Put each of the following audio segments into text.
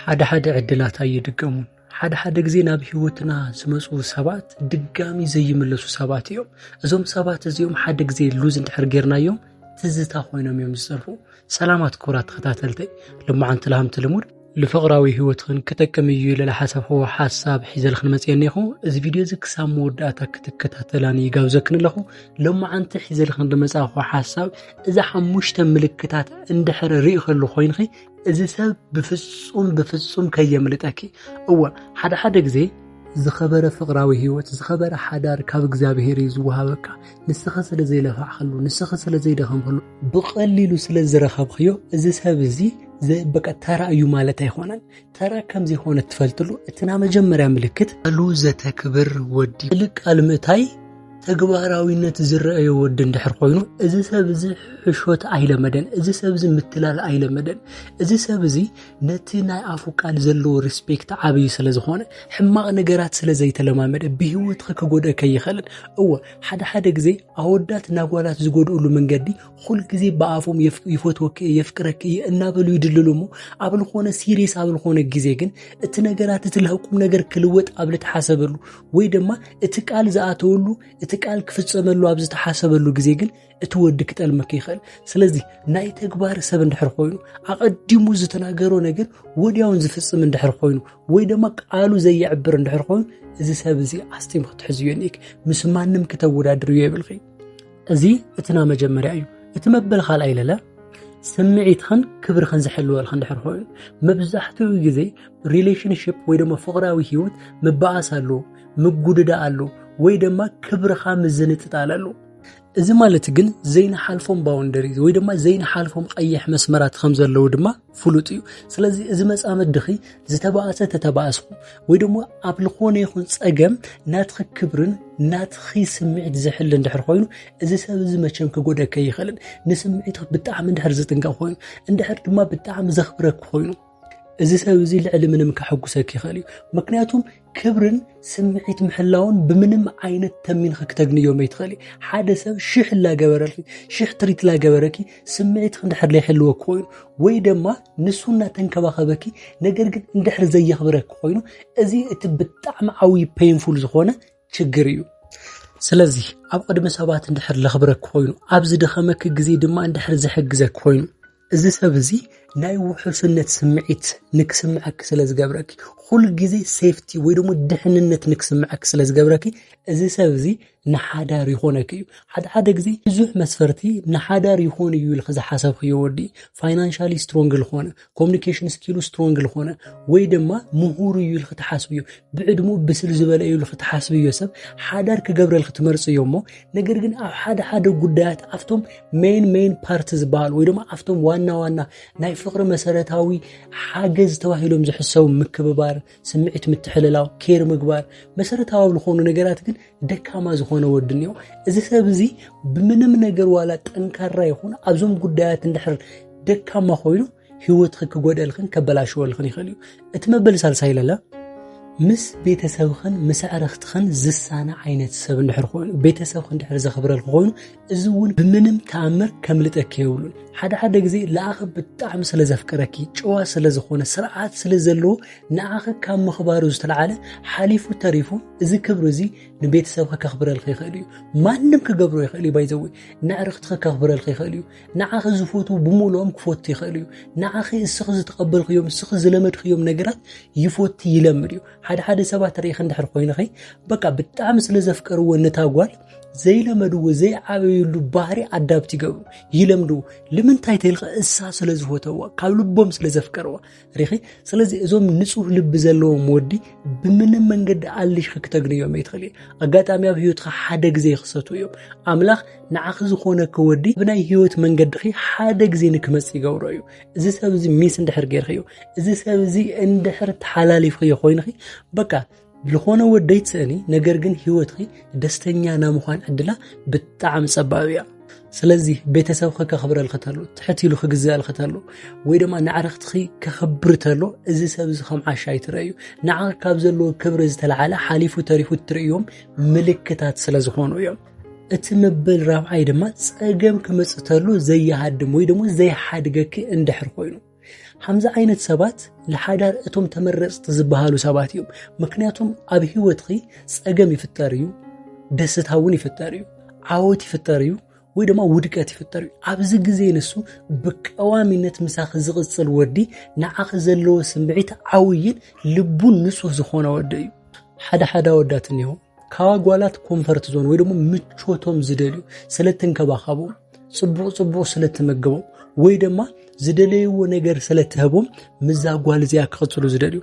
ሓደ ሓደ ዕድላት ኣይድገሙን። ሓደ ሓደ ግዜ ናብ ህይወትና ዝመፁ ሰባት ድጋሚ ዘይምለሱ ሰባት እዮም። እዞም ሰባት እዚኦም ሓደ ግዜ ሉዝ እንድሕር ጌርናዮም ትዝታ ኮይኖም እዮም ዝፀርፉ። ሰላማት ክቡራት ተኸታተልተይ ልማዓንቲ ልሃምቲ ልሙድ ልፍቕራዊ ህይወትኽን ክጠቅም እዩ ኢለ ዝሓሰብክዎ ሓሳብ ሒዘልኽን መፅየኒ እኹ እዚ ቪድዮ እዚ ክሳብ መወዳእታ ክትከታተላኒ ይጋብዘክን ኣለኹ ሎማዓንቲ ሒዘልኽን ዝመፃእኹ ሓሳብ እዛ ሓሙሽተ ምልክታት እንድሕር ርኢ ከሉ ኮይንኺ እዚ ሰብ ብፍጹም ብፍጹም ከየምልጠኪ። እወ ሓደ ሓደ ግዜ ዝኸበረ ፍቕራዊ ህይወት ዝኸበረ ሓዳር ካብ እግዚኣብሄር እዩ ዝወሃበካ። ንስኺ ስለ ዘይለፋዕክሉ፣ ንስኺ ስለ ዘይደኸምክሉ፣ ብቐሊሉ ስለ ዝረኸብክዮ እዚ ሰብ እዚ በቃ ተራ እዩ ማለት ኣይኮነን። ተራ ከም ዘይኮነ ትፈልጥሉ እቲ ናይ መጀመርያ ምልክት ቃሉ ዘተክብር ወዲ። ልቃል ምእታይ ተግባራዊነት ዝረአዮ ወዲ እንድሕር ኮይኑ እዚ ሰብ እዚ ሕሾት ኣይለመደን፣ እዚ ሰብ እዚ ምትላል ኣይለመደን፣ እዚ ሰብ እዚ ነቲ ናይ ኣፉ ቃል ዘለዎ ሪስፔክት ዓብዩ ስለ ዝኾነ ሕማቕ ነገራት ስለ ዘይተለማመደ ብሂወትኺ ክጎድእከ ይኽእልን። እወ ሓደ ሓደ ግዜ ኣወዳት ናጓላት ዝጎድእሉ መንገዲ ኩል ግዜ ብኣፎም ይፈትወኪ እየ የፍቅረኪ እየ እናበሉ ይድልሉ እሞ ኣብ ዝኾነ ሲሪየስ ኣብ ዝኾነ ግዜ ግን እቲ ነገራት እቲ ልህቁም ነገር ክልወጥ ኣብ ልትሓሰበሉ ወይ ድማ እቲ ቃል ዝኣተወሉ እቲ ቃል ክፍፀመሉ ኣብ ዝተሓሰበሉ ግዜ ግን እቲ ወዲ ክጠልመክ ይኽእል ስለዚ ናይ ተግባር ሰብ እንድሕር ኮይኑ ኣቐዲሙ ዝተናገሮ ነገር ወዲያውን ዝፍፅም እንድሕር ኮይኑ ወይ ድማ ቃሉ ዘየዕብር እንድሕር ኮይኑ እዚ ሰብ እዚ ኣስጢም ክትሕዝዮ ኒክ ምስ ማንም ክተወዳድርዮ የብልኺ እዚ እቲ ና መጀመርያ እዩ እቲ መበል ካልኣይ ለለ ስምዒትኽን ክብርኽን ዝሕልወልክ እንድሕር ኮይኑ መብዛሕትኡ ግዜ ሪሌሽንሽፕ ወይ ድማ ፍቕራዊ ህይወት ምበኣስ ኣሎ ምጉድዳ ኣሎ ወይ ድማ ክብርኻ ምዝንጥጣል ኣሎ እዚ ማለት ግን ዘይንሓልፎም ባውንደሪ ወይ ድማ ዘይንሓልፎም ቀይሕ መስመራት ከም ዘለዉ ድማ ፍሉጥ እዩ ስለዚ እዚ መፃመድኺ ዝተባእሰ ተተባእስኹ ወይ ድማ ኣብ ዝኾነ ይኹን ፀገም ናትኺ ክብርን ናትኺ ስምዒት ዝሕል እንድሕር ኮይኑ እዚ ሰብ እዚ መቸም ክጎደከ ይኽእልን ንስምዒት ብጣዕሚ እንድሕር ዝጥንቀቕ ኮይኑ እንድሕር ድማ ብጣዕሚ ዘኽብረክ ኮይኑ እዚ ሰብ እዚ ልዕሊ ምንም ከሐጉሰክ ይኽእል እዩ ምክንያቱም ክብርን ስምዒት ምሕላውን ብምንም ዓይነት ተሚንኺ ክተግንዮ መይትኽእሊ ሓደ ሰብ ሽሕ ላገበረልኪ ሽሕ ትሪት ላገበረኪ ስምዒትኺ እንድሕር ዘይሕልወ ኮይኑ ወይ ድማ ንሱ እናተንከባኸበኪ ነገር ግን እንድሕር ዘየኽብረኪ ኮይኑ እዚ እቲ ብጣዕሚ ዓብዪ ፔንፉል ዝኾነ ችግር እዩ ስለዚ ኣብ ቅድሚ ሰባት እንድሕር ለኽብረኪ ኮይኑ ኣብ ዝደኸመኪ ግዜ ድማ እንድሕር ዝሕግዘኪ ኮይኑ እዚ ሰብ እዚ ናይ ውሑስነት ስምዒት ንክስምዐኪ ስለ ዝገብረኪ ኩሉ ግዜ ሴፍቲ ወይ ደሞ ድሕንነት ንክስምዐኪ ስለ ዝገብረኪ እዚ ሰብ እዚ ንሓዳር ይኾነኪ እዩ ሓደ ሓደ ግዜ ብዙሕ መስፈርቲ ንሓዳር ይኾን እዩ ኢልኪ ዝሓሰብክዮ ወዲ ፋይናንሻሊ ስትሮንግ ልኾነ ኮሙኒኬሽን ስኪሉ ስትሮንግ ልኾነ ወይ ድማ ምሁር እዩ ኢልኪ ትሓስብዮ ብዕድሙ ብስል ዝበለ እዩ ኢልኪ ትሓስብዮ ሰብ ሓዳር ክገብረልኪ ትመርፅዮ እሞ ነገር ግን ኣብ ሓደ ሓደ ጉዳያት ኣብቶም ሜን ሜን ፓርቲ ዝበሃሉ ወይ ድማ ኣብቶም ዋና ዋና ናይ ፍቅሪ መሰረታዊ ሓገዝ ተባሂሎም ዝሕሰቡ ምክብባር፣ ስምዒት ምትሕልላው፣ ኬር ምግባር መሰረታዊ ዝኾኑ ነገራት ግን ደካማ ዝኾነ ወዲ እኒኦ እዚ ሰብ እዚ ብምንም ነገር ዋላ ጠንካራ ይኹን ኣብዞም ጉዳያት እንድሕር ደካማ ኮይኑ ህይወትኺ ክጎደልኽን ከበላሽወልኽን ይኽእል እዩ እቲ መበል ሳልሳይ ለለ ምስ ቤተሰብኽን ምስ ኣዕርኽትኽን ዝሳነ ዓይነት ሰብ እንድሕር ኮይኑ ቤተሰብኺ እንድሕር ዘኽብረልክ ኮይኑ እዚ እውን ብምንም ተኣምር ከምልጠኪ የብሉን ሓደ ሓደ ግዜ ለኣኸ ብጣዕሚ ስለ ዘፍቅረኪ ጨዋ ስለ ዝኾነ ስርዓት ስለ ዘለዎ ንኣኸ ካብ ምኽባሩ ዝተለዓለ ሓሊፉ ተሪፉ እዚ ክብሪ እዚ ንቤተሰብኺ ከኽብረልክ ይኽእል እዩ ማንም ክገብሮ ይኽእል እዩ ባይዘወይ ንኣዕርኽትኺ ከኽብረልክ ይኽእል እዩ ንዓኺ ዝፈትዉ ብምልኦም ክፈቱ ይኽእል እዩ ንዓኺ እስኺ ዝተቐበልክዮም እስኺ ዝለመድክዮም ነገራት ይፈቱ ይለምድ እዩ ሓደ ሓደ ሰባት ርኢኺ እንድሕር ኮይንኺ በቃ ብጣዕሚ ስለ ዘፍቀርዎ ነታ ጓል ዘይለመድዎ ዘይዓበዩሉ ባህሪ ኣዳብት ይገብሩ ይለምድዎ ልምንታይ ተልካ እሳ ስለ ዝፈተዋ ካብ ልቦም ስለ ዘፍቀርዋ ሪኺ ስለዚ እዞም ንጹህ ልቢ ዘለዎም ወዲ ብምንም መንገዲ ኣልሽኺ ክተግንዮም ይትኽእል እዩ ኣጋጣሚ ኣብ ህይወትካ ሓደ ግዜ ይኽሰቱ እዮም ኣምላኽ ንዓኺ ዝኾነ ክወዲ ብናይ ህይወት መንገድኺ ሓደ ግዜ ንክመጽእ ይገብሮ እዩ እዚ ሰብ እዚ ሚስ እንድሕር ጌርኺዮ እዚ ሰብ እዚ እንድሕር ተሓላሊፍኽዮ ኮይንኺ በቃ ዝኾነ ወደይ ትስእኒ ነገር ግን ህይወትኺ ደስተኛ ናይ ምዃን ዕድላ ብጣዕሚ ጸባብ እያ ስለዚ ቤተሰብኺ ከኽብረልኺ ተሎ ትሕት ኢሉ ክግዝኣልኺ ተሎ ወይ ድማ ንዕረኽትኺ ከኽብር ተሎ እዚ ሰብ እዚ ከም ዓሻ ኣይትረእዩ ንዓ ካብ ዘለዎ ክብሪ ዝተለዓለ ሓሊፉ ተሪፉ እትርእዮም ምልክታት ስለ ዝኾኑ እዮም እቲ መበል ራብዓይ ድማ ጸገም ክመጽእ ተሎ ዘይሃድም ወይ ድማ ዘይሓድገኪ እንድሕር ኮይኑ ከምዚ ዓይነት ሰባት ንሓዳር እቶም ተመረፅቲ ዝበሃሉ ሰባት እዮም ምክንያቱም ኣብ ሂወትኺ ፀገም ይፍጠር እዩ ደስታ እውን ይፍጠር እዩ ዓወት ይፍጠር እዩ ወይ ድማ ውድቀት ይፍጠር እዩ ኣብዚ ግዜ ንሱ ብቀዋሚነት ምሳኺ ዝቕፅል ወዲ ንዓኺ ዘለዎ ስምዒት ዓውይን ልቡን ንፁህ ዝኾነ ወዲ እዩ ሓደ ሓደ ወዳት እኒሆ ካብ ኣጓላት ኮንፈርት ዞን ወይ ደግሞ ምቾቶም ዝደልዩ ስለ እትንከባኸቦም ፅቡቕ ፅቡቕ ስለ እትመግቦም ወይ ድማ ዝደለይዎ ነገር ስለ እትህቦም ምዛ ጓል እዚኣ ክቕፅሉ ዝደልዩ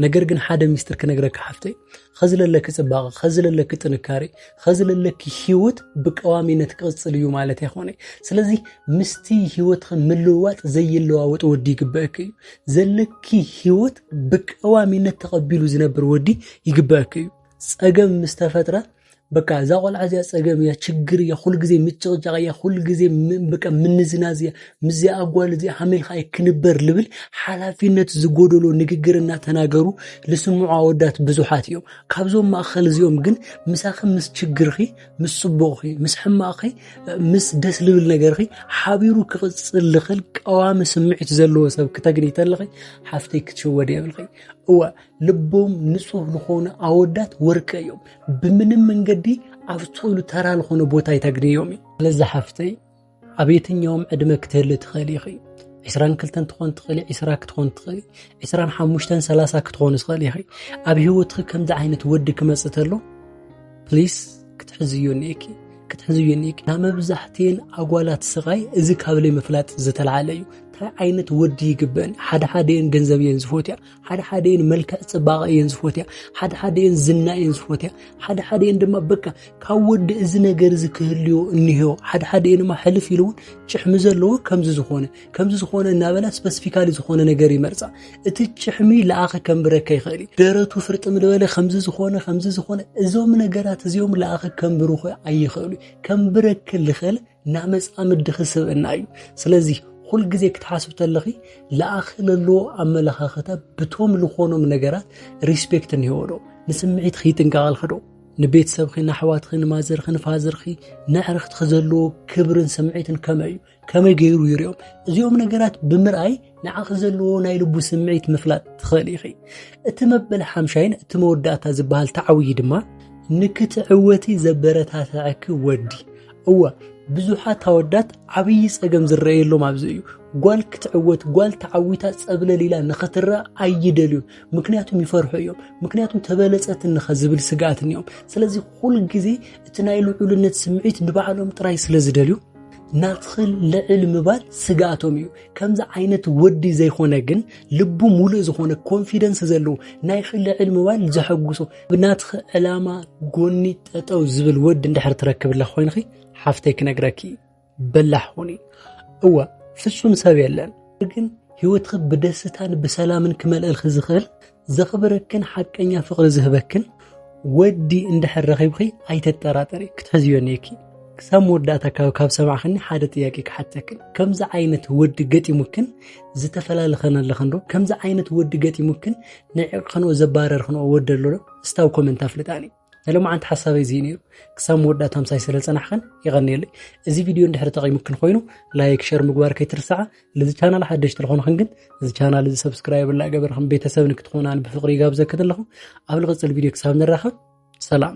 ነገር ግን ሓደ ሚስጥር ክነግረካ ሓፍተይ ኸዚ ለለኪ ፅባቐ ኸዚ ለለኪ ጥንካሬ ኸዚ ለለኪ ሂወት ብቀዋሚነት ክቕፅል እዩ ማለት ኣይኮነ ስለዚ ምስቲ ሂወትኺ ምልውዋጥ ዘይለዋወጥ ወዲ ይግበአኪ እዩ ዘለኪ ሂወት ብቀዋሚነት ተቐቢሉ ዝነብር ወዲ ይግበአኪ እዩ ጸገም ምስ ተፈጥረ በቃ እዛ ቆልዓ እዚኣ ጸገም እያ፣ ችግር እያ፣ ኩሉ ግዜ ምጭቕጫቕ እያ፣ ኩሉ ግዜ በቃ ምንዝናዝ እያ፣ ምስዚኣ ጓል እዚኣ ሃመይ ኢልካ ኣይክንበር ልብል ሓላፊነት ዝጎደሎ ንግግር እናተናገሩ ዝስምዑ ኣወዳት ብዙሓት እዮም። ካብዞም ማእኸል እዚኦም ግን ምሳኺ ምስ ችግርኺ፣ ምስ ጽቡቕኺ፣ ምስ ሕማቕኺ፣ ምስ ደስ ልብል ነገርኺ ሓቢሩ ክቕጽል ዝኽእል ቀዋሚ ስምዒት ዘለዎ ሰብ ክተግኒ ተለኺ ሓፍተይ ክትሽወድ የብልኺ። እወ ልቦም ንጹህ ዝኾኑ ኣወዳት ወርቂ እዮም ብምንም መንገዲ ኣብ ጾሉ ተራ ዝኾነ ቦታ ኣይተግንዮም እዩ ስለዚ ሓፍተይ ኣብ የትኛውም ዕድመ ክትህሊ ትኽእል ኢኺ ዕስራን ክልተን ትኾን ትኽእሊ ዕስራ ክትኾን ትኽእሊ ዕስራን ሓሙሽተን ሰላሳ ክትኾን ዝኽእል ኢኺ ኣብ ሂወትኺ ከምዚ ዓይነት ወዲ ክመፅእ ተሎ ፕሊስ ክትሕዝዮ እኒኤኪ ክትሕዝዮ እኒኤኪ ናብ መብዛሕትኤን ኣጓላት ስቓይ እዚ ካብ ለይ ምፍላጥ ዝተልዓለ እዩ እንታይ ዓይነት ወዲ ይግበን ሓደ ሓደኤን ገንዘብ እየን ዝፎትያ ሓደ ሓደ እየን መልክዕ ፅባቐ እየን ዝፎትያ ሓደ ሓደ እየን ዝና እየን ዝፎትያ ሓደ ሓደ እየን ድማ በቃ ካብ ወዲ እዚ ነገር እዚ ክህልዮ እኒሄዮ ሓደ ሓደ እየን ድማ ሕልፍ ኢሉ እውን ጭሕሚ ዘለዎ ከምዚ ዝኾነ ከምዚ ዝኾነ እናበላ ስፐሲፊካሊ ዝኾነ ነገር ይመርፃ እቲ ጭሕሚ ለኣኸ ከንብረካ ይኽእል እዩ ደረቱ ፍርጥ ምድበለ ከምዚ ዝኾነ ከምዚ ዝኾነ እዞም ነገራት እዚኦም ለኣኸ ከንብርኹ ኣይኽእሉ ከንብረክ ልኽእል ናመፃ ምድኺ ስብእና እዩ ስለዚ ሁል ግዜ ክትሓስብ ተለኺ ለኣኺ ለለዎ ኣመለኻኽታ ብቶም ዝኾኖም ነገራት ሪስፔክት እንሄዎዶ ንስምዒትኺ ይጥንቀቐልኽዶ ንቤተሰብኺ ንኣሕዋትኺ ንማዘርኺ ንፋዘርኺ ንዕርኽትኺ ዘለዎ ክብርን ስምዒትን ከመይ እዩ ከመይ ገይሩ ይርኦም እዚኦም ነገራት ብምርኣይ ንዓኺ ዘለዎ ናይ ልቡ ስምዒት ምፍላጥ ትኽእል ኢኺ እቲ መበል ሓምሻይን እቲ መወዳእታ ዝበሃል ተዓውዪ ድማ ንክትዕወቲ ዘበረታትዐኪ ወዲ እወ ብዙሓት ኣወዳት ዓብዪ ጸገም ዝረኣየሎም ኣብዚ እዩ ጓል ክትዕወት ጓል ተዓዊታ ጸብለል ኢላ ንኽትረኣ ኣይደልዩ ምክንያቱም ይፈርሑ እዮም ምክንያቱም ተበለጸት እንኸ ዝብል ስግኣት እኒኦም ስለዚ ኩል ግዜ እቲ ናይ ልዑልነት ስምዒት ንባዕሎም ጥራይ ስለ ዝደልዩ ናትኽል ልዕል ምባል ስግኣቶም እዩ ከምዚ ዓይነት ወዲ ዘይኮነ ግን ልቡ ሙሉእ ዝኾነ ኮንፊደንስ ዘለዎ ናይኽል ልዕል ምባል ዘሐጉሶ ብናትኽ ዕላማ ጎኒ ጠጠው ዝብል ወዲ እንድሕር ትረክብለ ኮይንኺ ሓፍተይ ክነግረኪ በላሕ ኹኒ እወ ፍጹም ሰብ የለን ግን ህይወትኺ ብደስታን ብሰላምን ክመልእልኺ ዝኽእል ዘኽብረክን ሓቀኛ ፍቕሪ ዝህበክን ወዲ እንድሕር ረኺብኺ ኣይተጠራጠሪ ክትሕዝዮ ኔኪ ክሳብ መወዳእታ ካብ ካብ ሰማዕኽኒ ሓደ ጥያቄ ክሓተክን ከምዚ ዓይነት ወዲ ገጢሙክን ዝተፈላለኸን ኣለኽን ዶ ከምዚ ዓይነት ወዲ ገጢሙክን ንዕቕኽንኦ ዘባረርኽንኦ ወዲ ኣሎ ዶ እስታብ ኮመንት ኣፍልጣኒ ናይ ሎማዓንቲ ሓሳበይ እዚ ነይሩ ክሳብ መወዳእታ ምሳይ ስለ ዝፀናሕኽን የቐንየለይ እዚ ቪድዮ እንድሕሪ ጠቒሙክን ኮይኑ ላይክ ሸር ምግባር ከይትርስዓ ልዚ ቻናል ሓደሽቲ ዝኾንኽን ግን እዚ ቻናል እዚ ሰብስክራይብ እናገበርኽን ቤተሰብ ንክትኾናን ብፍቕሪ ይጋብዘክን ኣለኹ ኣብ ልቕፅል ቪድዮ ክሳብ ንራኸብ ሰላም